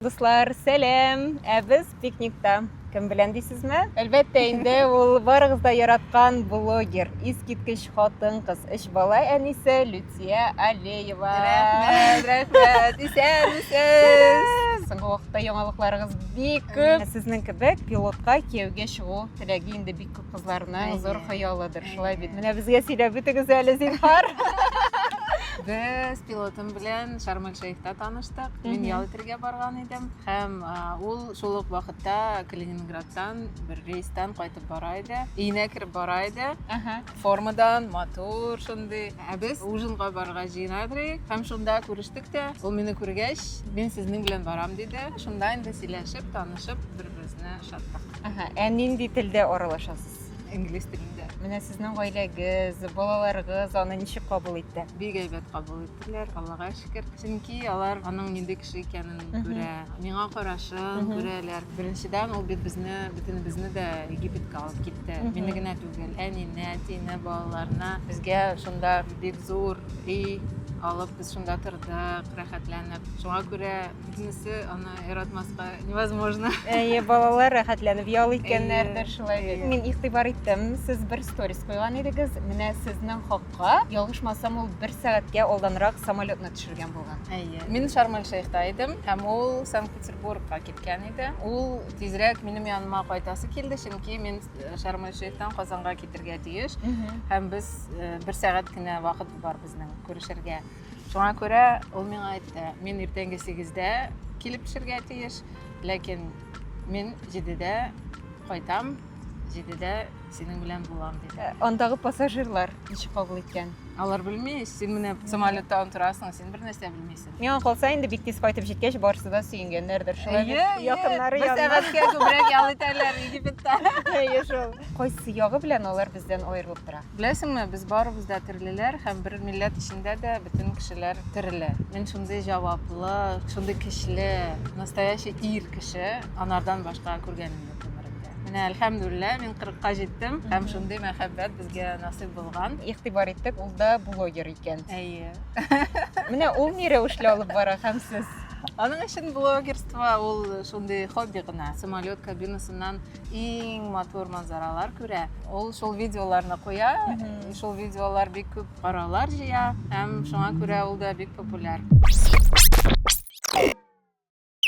Дуслар, сәлам! Ә без пикникта. Кем белән дисезме? Әлбәттә инде, ул барыгыз да яраткан блогер, искиткеч хатын-кыз, өч бала әнисе Люция Алеева. Рәхмәт, рәхмәт. Исән, исән. Соңгы вакытта яңалыкларыгыз бик күп. Сезнең кебек пилотка кияүгә чыгу теләге инде бик кызларның зур хыялыдыр, шулай бит. Менә безгә сөйләп үтегез әле, зинһар. Без пилотым белән Шармель Шейхта таныштык. Мин ял итәргә барган идем һәм ул шул ук вакытта Калининградтан бер рейстан кайтып бара иде. Өенә кереп бара иде. Формадан матур шундый. Ә без ужинга барырга җыена идек һәм шунда күрештек тә. Ул мине күргәч, мин сезнең белән барам диде. Шунда инде сөйләшеп, танышып, бер Безне шатлык. Ага, ә нинди телдә аралашасыз? Инглиз телендә. Менә сезнең гаиләгез, балаларыгыз аны ничек кабул итте? Бик әйбәт кабул иттеләр, Аллага шөкер. Чөнки алар аның нинди кеше икәнен күрә, миңа карашын күрәләр. Беренчедән, ул бит безне, бөтенебезне дә Египетка алып китте. Мине генә түгел, әнине, әтине, балаларны. Безгә шунда бик зур өй алып, без шунда тордык, рәхәтләнеп. Шуңа күрә Күбенесе аны яратмаска невозможно. Әйе, балалар рәхәтләнеп ял иткәннәрдер шулай бит. Мин игътибар иттем, сез бер сторис куйган идегез. Менә сезнең хакка, ялгышмасам, ул бер сәгатькә алданрак самолетны төшергән булган. Әйе. Мин Шарм-эль-Шейхта идем, һәм ул Санкт-Петербургка киткән иде. Ул тизрәк минем яныма кайтасы килде, чөнки мин э, Шарм-эль-Шейхтан Казанга китергә тиеш. Һәм без э, бер сәгать кенә вакыт бар безнең күрешергә. Шуңа күрә ул миңа әйтте, мин иртәнге сигездә килеп төшергә тиеш, ләкин мин җидедә кайтам, җидедә синең белән булам, диде. Э, андагы пассажирлар ничек кабул иткән? Алар белми, син менә самолетта утырасың, син бер нәрсә белмисең. Миңа калса инде бик тиз кайтып җиткәч, барысы да сөенгәннәрдер. Шулай бит якыннары янына. Бер сәгатькә күбрәк ял итәләр Египетта. Әйе шул. Кайсы ягы белән алар бездән аерылып тора? Беләсеңме, без барыбыз да терлеләр һәм бер милләт эчендә дә бөтен кешеләр терелә. Мин шундый җаваплы, шундый көчле, настоящий ир кеше анардан башка күргәнем юк гомеремдә. Менә әлхәмдүлиллә, мин 40-ка җиттем һәм шундый мәхәббәт безгә насыйп булган. Игътибар иттек, ул да блогер икән. Әйе. Менә ул ни рәвешле алып бара һәм сез? Аның өчен блогерство ул шундый хобби гына. Самолет кабинасыннан иң матур манзаралар күрә. Ул шул видеоларны куя, шул видеолар бик күп караулар җыя һәм шуңа күрә ул да бик популяр.